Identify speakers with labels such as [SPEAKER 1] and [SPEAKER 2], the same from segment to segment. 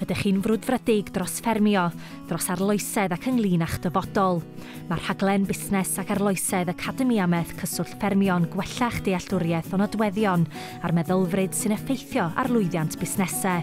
[SPEAKER 1] Ydych chi'n frwdfrydig dros ffermio, dros arloesedd ac ynglŷn â'ch dyfodol? Mae rhaglen Busnes ac Arloesedd Academi Ameth Cyswllt Ffermio'n gwella'ch dealltwriaeth o nodweddion a'r meddylfryd sy'n effeithio ar lwyddiant busnesau.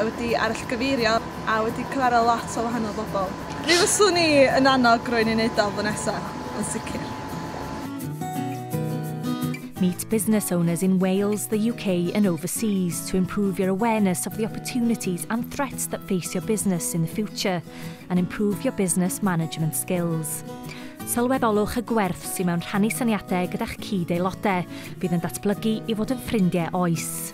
[SPEAKER 1] wedi arallgyfeirio a wedi cyfarfod lot o wahanol bobl. Mi fyswn i yn annog rywun i neud o flwyddyn nesa, yn sicr. Meet business owners in Wales, the UK and overseas to improve your awareness of the opportunities and threats that face your business in the future and improve your business management skills. Sylweddolwch y gwerth sy'n mewn rhannu syniadau gyda'ch cyd-aelodau. Bydd yn datblygu i fod yn ffrindiau oes.